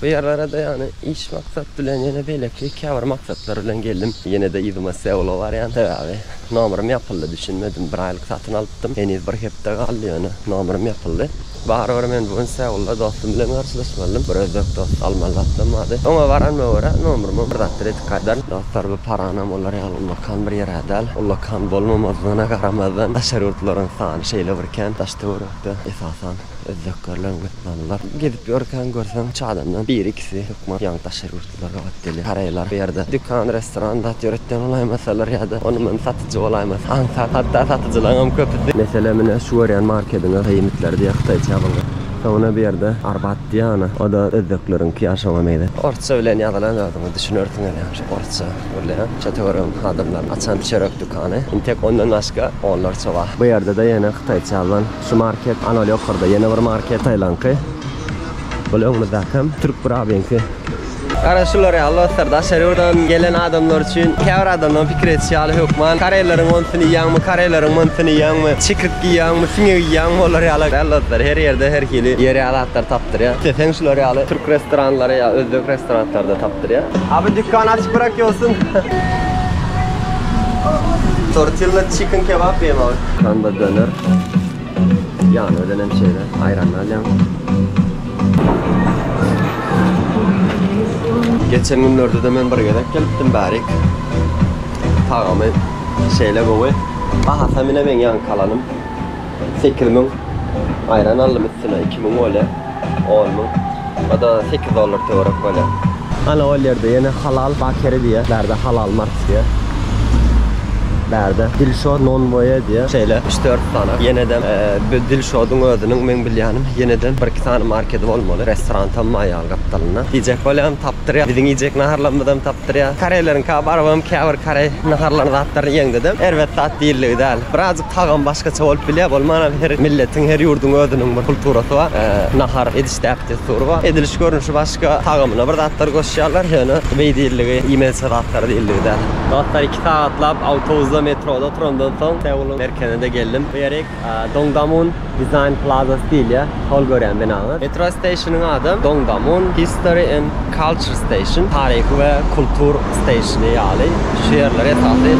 Bu ýerlere-de ýagny iş maksat bilen ýene beýleki käbir maksatlar bilen geldim. Ýene-de yzyma Seula barýan sebäbi nomerym ýapyldy düşünmedim. Bir aýlyk satyn alypdym. Heniz bir hepde galdy ýöne nomerym ýapyldy. Barybir men bu gün Seula dostum bilen garşylaşmalydym. Bir özbek dost almaly zatym bardy. Oňa baranyma görä nomerimi bir zatlar edip gaýdaryn. Dostlar bu paranam olar ýaly ullakan bir ýer-ä däl. Ullakan bolmamazyna garamazdan daşary ýurtlaryň sany şeýle bir kän. Daş töwerekde esasan özbeklerleň. Ýalylar gezip ýörkäň görseň çadamdan biri ikisi hökman ýaňy daşary ýurtlular gabat gelýär. Garaýlar bu ýerde dükan, restoran zat ýöretýän bolaýmasalar ýa-da ony muny satyjy bolaýmasa aňsat hatda satyjylaryňam köpüsi Meselem ine şu görýän markediňe Hyýmitler diýýär hytaýça ýazylgan. Soňra bu ýerde Arbat diýýär ony. O-da özbekleriňki ýaly şoňa meýle. Orsça bilen ýazylan özüňiz düşünersiňiz ýaňy şu orsça gürleýän şo töweregiň adamlarynyň açan çörek dükany. Indi tek ondan başga onlarça bar. Bu ýerde-de ýene hytaýça ýazylan. Şu market ana ýokarda ýene bir market taýlanky. Ol öňümizdäki hem türk birabiňki. Gara şular ýaly dostlar daşary ýurdan gelen adamlar üçin käbir adamlaryň pikir edişi ýaly hökman koreýleriň onysyny iýýäňmi koreýleriň munysyny iýýäňmi çikrik iýýäňmi siňek iýýäňmi olar ýaly däl dostlar her ýerde her hili ýer ýaly zatlary tapdyrýar isleseň şular ýaly türk restoranlary ýa özbek restoranlarda tapdyrýar Abi dükkan açyk bırak ýolsun Tortilla chicken kebap diýem abi. Kanda döner. Ýany bilen hem şeýle aýranyny alýaň. Geçen günlerde-de men bir gezek gelipdim bärik. Tagamy şeýle gowy. Bahasam ine meň ýaňky alanym. Sekiz müň. Aýran aldym üstüne iki müň bolýa. On müň. O da sekiz dollar töwerek bolýar. Ana ol ýerde ýene Halal Bakery diýýär. Bärde Halal Mart diýýär. Bärde Dilşod Nonboýe diýýär. Şeýle üç dört sany. Ýenede bu Dilşodyň özüniň meň bilýänim ýenede bir iki sany markedi bolmaly. Restoran tam maýaly gapdalynda. Iýjek bolýam tapdyrýar. Biziň iýjek naharlarymyzam tapdyrýar. Koreýleriňka baryp hem käbir koreý naharlaryny zatlaryny iýeňdedem erbet zat diýildigi däl. Birazjyk Tagam başgaça bolup bilýär, bolmanam her milletiň, her ýurduň özüniň bir kulturasy bar. Nahar ediş däp-dessury bar. Ediliş görnüşi başga, tagamyna bir zatlar goşýarlar, ýöne beý diýildigi, iýmezçe zatlar diýildigi däl. Dostlar, iki sagatlap awtobusda, metroda oturandan soň, Seulyň merkezine-de geldim. Bu ýerik Dongdamun. Design Plaza Stil ýa, hol görýän binaňyz. Metro Station-yň ady Dongdamun History and Culture Station, Taryhy we Kultur Station-y ýaly, şu ýerler esasy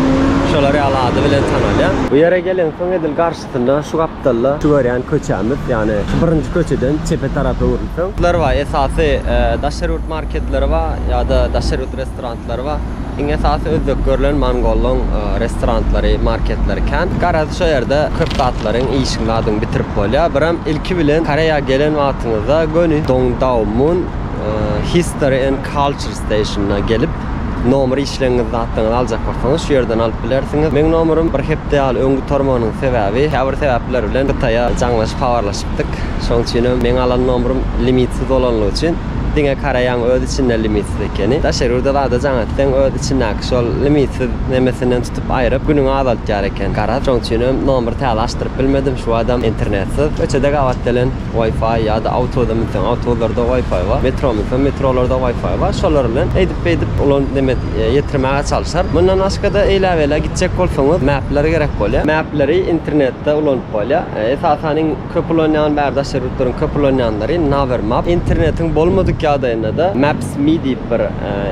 şolar ýaly ady bilen tanalýar. Bu ýere gelensoň edil garşysynda şu gapdalda şu görýän köçämiz, ýagny şu birinji köçeden çepe tarap öwrülseň. Lar bar, esasy daşary ýurt marketleri bar ýa-da daşary ýurt restoranlary. Atlary bar. Iň esasy üzzük görlen mongollaň restorantlary, marketlary kän. Garaz şo ýerde köp zatlaryň, işiň zadyňy bitirip bolýar. Birem ilki bilen Koreýa gelen wagtyňyzda göni Dongdaomun History and Culture Station-na gelip, nomer işleňňiz zatlaňyzy aljak bolsaňyz şu ýerden alyp bilersiňiz. Meň nomerym bir hepde ýaly öň gutarmagynyň sebäbi, käbir sebäpler bilen Hytaýa jaňlaşyp habarlaşýan. Dik, şoň üçinem meň alan nomrym limitsiz bolanlygy üçin, diňe Koreýaň öz içinde limitsiz ekeni. Daşary ýurda zada jaň etseň, öz içindäki şol limitsiz nemesinden tutup aýryp, günüňi azaltýar eken. Garaz, şoň üçinem nomry täze açdyryp bilmedim, şu badam internetsiz. Köçede gabat gelen Wi-Fi ýa-da awtoda münseň, awtozlarda Wi-Fi bar, metro münseň, metrolarda Wi-Fi bar. Şolar bilen eýdip-beýdip ulan neme ýetirmäge çalyşaryn. Mundan başga-da, eýläbeýlä gitjek bolsaňyz, mapler gerek bolýar. Mapleri internetde ulanyp bolýar. Esasan iň köp ulanýan bäri daşary ýurtlaryň köp ulanýanlary Navermap. Internetiň bolmadyk ýagdaýynda-da Maps Me diýip bir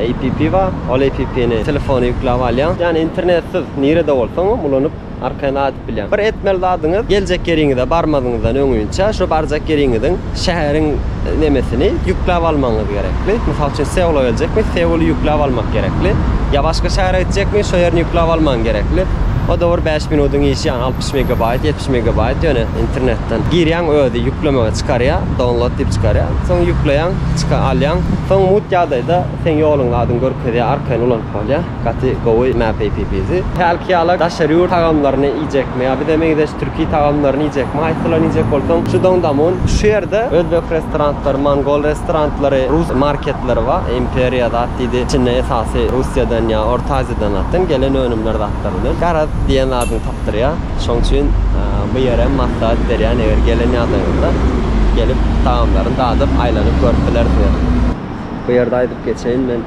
APP bar. Ol APP-ni telefona ýükläp alýaň. Ýagny internetsiz nirede bolsaňam ulanyp arkaýyn adyp bilýäň. Bir etmeli zadyňyz geljek ýeriňize barmazyňyzdan öňinçä şu barjak ýeriňiziň şäheriň nemesini ýükläp almagyňyz gerekli. Mysal üçin Seula geljekmi Seuly ýükläp almak gerekli. Ýa başga şähere gitjekmi şo ýerini ýükläp almaň gerekli. O da bir bäş minudyň işi ýagny altmyş. Üç megabaýt, ýetmiş megabaýt ýöne internetden. Girýäň özi ýüklemegi çykarýa, download diýip çykarýa. Soň ýükleýäň, çyka alýaň. Soň mugt ýagdaýda seň ýoluň adyny görkezýä, arkaýyn ulanyp bolýa. Gaty gowy map app bizi. Hälki ýala daşary ýurt tagamlaryny iýjekmi ýa bize meňzeş türki tagamlaryny iýjekmi, haýsylaryny iýjek bolsaň şu doňdamun. Şu ýerde özbek restorantlary, mongol restorantlary, rus marketleri bar. Imperiýa zat diýdi. Içinde esasy Russiýadan ýa Orta Aziýadan zatdan gelen önümler zatlar bilen. Garaz diýen zadyňy Çykdyrýar. Şoň üçin bu ýerem maslahat berýän eger gelen ýagdaýyňyzda gelip tagamlaryny dadyp aýlanyp görüp bilersiňiz. Bu ýerde aýdyp geçeýin men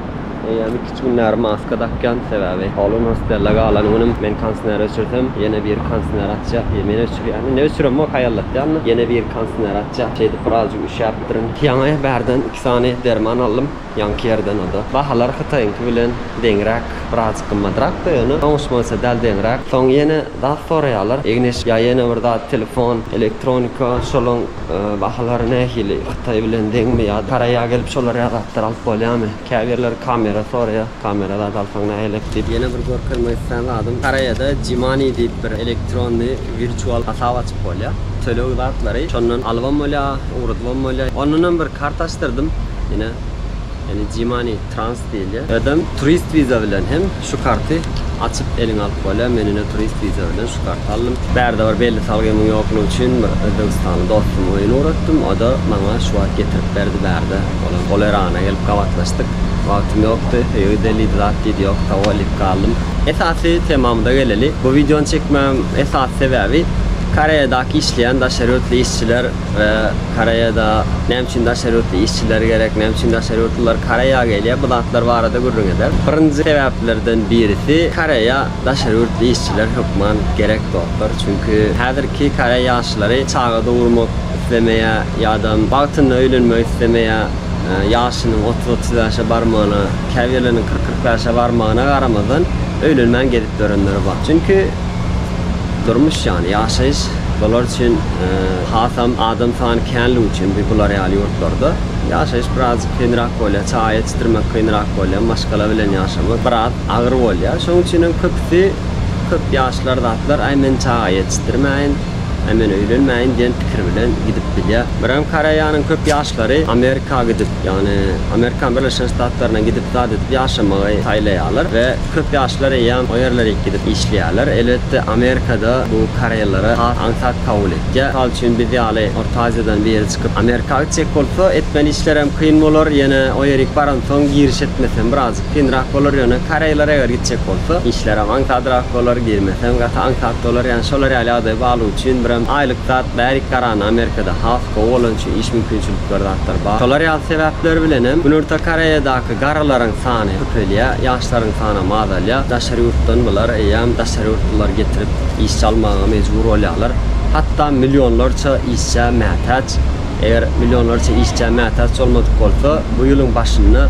eýýäm iki üç gün bäri maska dakýan sebäbi holuň hostelde galan günüm men konsner öçürsem ýene biri konsner açýa diýip men öçürýäne ne öçüremok haýallatýanna ýene biri konsner açýa şeýdip birazjyk üşäpdirin ýaňy bärden iki sany derman aldym. Ýaňky ýerden oda. Bahalar hytaýyňky bilen deňräk, birazjyk gymmadrakda ýöne oňuş boýunça dal deňräk. Soň ýene zat soraýarlar. Egneş ýa ýene bir zat telefon, elektronika şolaň bahalary nähili hytaý bilen deňmi ýa Koreýa gelip şolar ýaly zatlar alyp bolýamy. Käbirleri kamera soraýar. Kamera zat alsaň nähilek diýip. Ýene bir görkezmek islän zadym Koreýada Jimani diýip bir elektronny. Wirtual hasap açyp bolýar. Töleg zatlary şondan alybam bolýar, ugradybam bolýar. Ondan hem bir karta açdyrdym. Ine, ýani G-money trans diýilýär. Ýa-da turist visa bilen hem şu karty açyp eliňe alyp bolýar. Men ine turist visa bilen şu karty aldym. Bärde bir belli salgymyň ýoklugy üçin bir özbegistanly dostum öýüne ugratdym. O-da maňa şu wagt getirip berdi bärde. Ol hem Olerana gelip gabatlaşdyk. Wagtym ýokdy, öýde lid zat did ýok, tawalip galdym. Esasy temamyza geleli, bu wideony çekmegimiň esasy sebäbi Koreýadaky işleýän daşary ýurtly işçiler we Koreýada näme üçin daşary ýurtly işçiler gerek, näme üçin daşary ýurtlylar Koreýa gelýär bu zatlar barada gürrüň eder. Birinji sebäplerden birisi Koreýa daşary ýurtly işçiler hökman gerek dostlar, çünki häzirki Koreý ýaşlary çaga dogurmak islemeýär ýadam wagtynda öýlenmek islemeýär. Ýaşynyň otuz-otuz bäşe barmagyna, käbirleriniň kyrk-kyrk bäşe barmagyna garamazdan, öýlenmän gezip ýörenleri bar. Çünki durmuş ýany, ýaşaýyş bular üçin hasam adam sany känligi üçin bir bular ýaly ýurtlarda ýaşaýyş birazjyk kynrak bolýar. Çaý içdirmek kynrak bolýar, maşgala bilen ýaşamak biraz agyr bolýar. Şonuň üçin hem köpüsi, köp ýaşlar zatlar, Aý, men çaga ýetişdirmäýin. Äý men öýlenmäýin diýen pikir bilen gidip bilýä. Birem Koreýanyň köp ýaşlary Amerika gidip, ýagny Amerikan Birleşen Ştatlaryna gidip zat edip ýaşamagy saýlaýarlar we köp ýaşlar eýýäm o ýerlere gidip işleýärler. Elbetde Amerikada bu koreýlere has aňsat kabul etýär. Mysal üçin biz ýaly Orta Aziýadan biri çykyp Amerika gitjek bolsa etmeli işlerem kyn bolar, ýene o ýerik baransoň giriş etmesem biraz. Kynrak bolar ýöne koreýler eger gitjek bolsa işlerem aňsadrak bolar girmesem gaty aňsat bolar ýani şolar ýaly ýagdaý barlygy üçin birem aýlyk zat bärik garany amerikada has gowy bolany üçin iş mümkinçilikleri zatlar bar şolar ýaly sebäpler bilenem günorta koreýadaky garrylaryň sany köpelýä ýaşlaryň sanam azalýa daşary ýurtdan bular eýýäm daşary ýurtlylary getirip işçi almaga mejbur bolýalar hatda millionlarça işçä mätäç. Eger millionlarça işçä mätäç bolmadyk bolsa, bu ýylyň başynda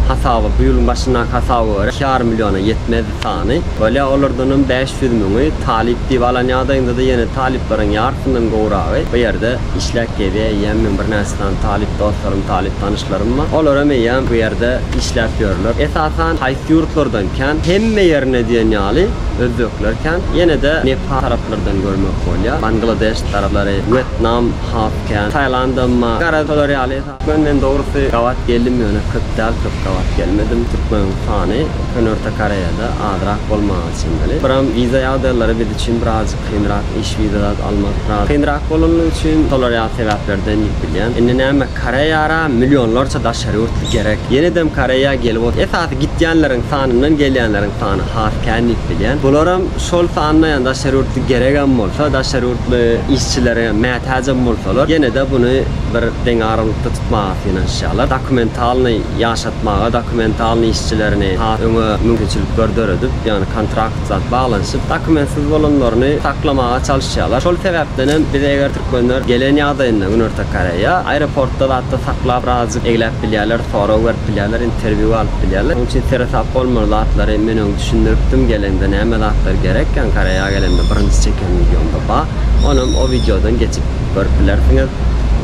hasaby, bu ýylyň başyndaky hasaba görä, iki ýarym milliona ýetmezdi sany. Bolýa olardanam bäş ýüz müňi talyp diýip alan ýagdaýynda-da ýene talyplaryň ýarsyndan gowragy bu ýerde işläp gezýä eýýäm meň birnäçe sany talyp dostlarym, talyp tanyşlarym bar. Olaram eýýäm bu ýerde işläp ýörler. Esasan haýsy ýurtlardan kän? Hemme ýerine diýen ýaly özbekler kän. Ýene-de Nepal taraplardan görmek bolýa. Bangladeş taraplary, Wýetnam. Has kän saýlandymma garaz şolar ýaly türkmen men dogrusy gabat geldim ýöne köp däl köp gabat gelmedim türkmeniň sany Köneorta Koreýada azrak bolmaga çemeli biram wiza ýagdaýlary biz üçin birazjyk kynrak iş wiza zat almak biraz kynrak bolanlygy üçin şolar ýaly sebäplerden diýip bilýän indi näme Koreýara millionlarça daşary ýurtly gerek ýenedem Koreýa gelip otyr esasy gitýänleriň sanyndan gelýänleriň sany has kän diýip bilýän bularam Şol sanda ýa daşary ýurtly geregem bolsa, daşary ýurtly işçilere mätäjem bolsalar, ýene-de buny bir deň aralykda tutmaga synanyşýarlar. Dokumentalnyý ýaşatmaga, dokumentalnyý işçilerini has öňe mümkinçilikler döredip, ýagny kontrakt zat baglanyşyp, dokumentsiz bolanlaryny saklamaga çalyşýarlar. Şol sebäpden hem biz eger türkmenler gelen ýagdaýynda Günorta Koreýa, aeroportda zatda saklap, birazajyk egläp bilýärler, sorag berip bilýärler, interwýu alyp bilýärler. Onuň üçin seresap bolmaly zatlary men öň Düşündiripdim gelende näme zatlar gerekgän Koreýa gelende birinji çeken wideomda bar onam o wideodan geçip görüp bilersiňiz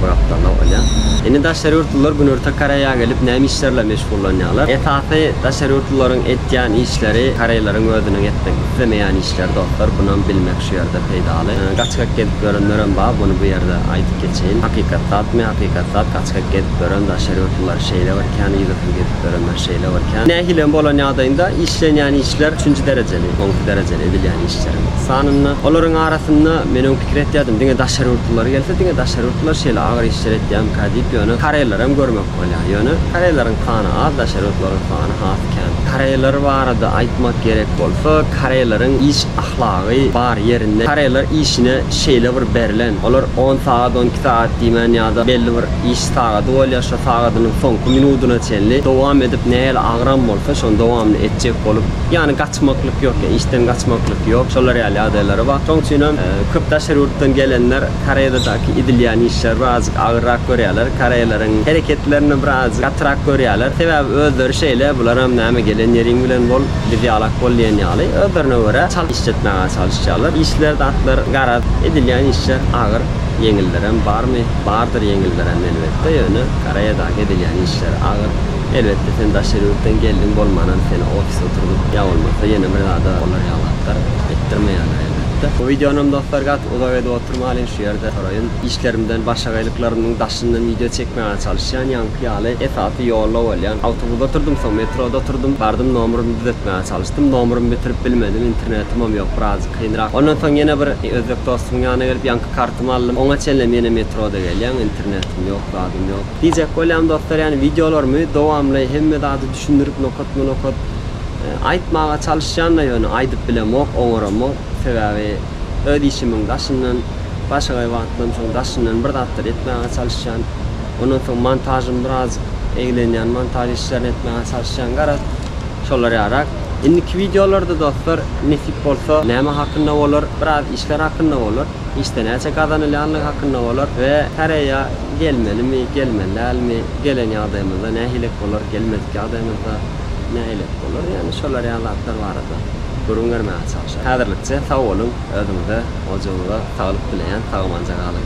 bu gapdala olýa. Indi daşary ýurtlular günorta Koreýa gelip näme işlerle meşgullanýalar esasy daşary ýurtlularyň etýän işleri koreýleriň özüniň etmek islemeýän işleri dostlar bunam bilmek şu ýerde peýdaly gaçgak gezip ýörenlerem bar buny bu ýerde aýdyp geçeýin hakykat zatmy hakykat zat gaçgak gezip ýören daşary ýurtlular şeýle bir kän yzysyz gezip ýörenler Şeýle bir kän. Nähili hem bolan ýagdaýynda işlenýän işler üçünji derejeli, onki derejeli edilýän işleriň sanynda. Olaryň arasynda men öň pikir etýärdim, diňe daşary ýurtlular gelse, diňe daşary ýurtlular şeýle agyr işler etýärmika diýip, ýöne koreýleri hem görmek bolýar. Ýöne koreýleriň sany az, daşary ýurtlaryň sany has kän. Koreýler barada aýtmak gerek bolsa, koreýleriň iş ahlagy bar ýerinde. Koreýler işine şeýle bir berlen, olar on sagat, onki sagat diýmän ýa-da belli bir iş, Sagady bolýar, şo sagadynyň soňky minudyna çenli dowam edip, nähili agram bolsa, şony dowamly etjek bolup, ýagny gaçmaklyk ýok, işden gaçmaklyk ýok, şolar ýaly ýagdaýlary bar. Şoň üçin hem köp daşary ýurtdan gelenler Koreýadadaky edilýän işleri bir azajyk agyrrak görýärler, koreýleriň hereketlerini bir azajyk gatyrak görýärler. Sebäbi özleri şeýle, bular hem näme gelen ýeriň bilen bol, biz ýalak bol diýen ýaly, özlerine görä çalt iş etmäge çalyşýarlar. Işleri zatlar garaz, edilýän işler agyr, ýeňillerem barmy? Bardyr ýeňildirem elbetde, ýöne Koreýadaky edilýän işler agyr. Elbetde sen daşary ýurtdan geldiň bolmanam seni ofise oturdyp ýa bolmasa ýene bir zada olar ýaňlatdyr etdirmeýärler elbetde. Bu wideonam dostlar gaty uzak edip oturmalyň şu ýerde soraýyn. Işlerimden başagaýlyklarymyň daşyndan wideo çekmäge çalyşýan ýaňky ýaly esasy ýolda bolýan. Awtobuda oturdym soň metroda oturdym bardym nomrymy düzetmäge çalyşdym nomrymy bitirip bilmedim internetimem ýok birazjyk kynrak. Ondan soň ýene bir özbek dostumyň ýanyna gelip ýaňky Kartymy aldym. Oňa çenlem ýene metroda gelýän, internetim ýok, zadym ýok. Diýjek bolýan dostlar ýany wideolarymy dowamly hemme zady düşündirip nokatma nokat aýtmaga çalyşýanda ýöne aýdyp bilemok, oňaramok. Sebäbi öz işimiň daşyndan başagaý wagtdan soň daşyndan bir zatlar etmäge çalyşýan. Ondan soň montažym biraz eglenýän montaž işlerini etmäge çalyşýan garaz. Şolar ýarak. Indiki wideolarda dostlar nesip bolsa näme hakynda bolar? Biraz işler hakynda bolar. Işde näçe gazanylýanlygy hakynda bolar we Koreýa gelmelimi, gelmeli dälmi, gelen ýagdaýymyzda nähilek bolar, gelmedik ýagdaýymyzda nähilek bolar ýagny şolar ýaly zatlar barada gürrüň bermäge çalyşarys. Häzirlikçe sag boluň, özüňize, ojagyňyza saglyk dileýän, sag-amanja galyň.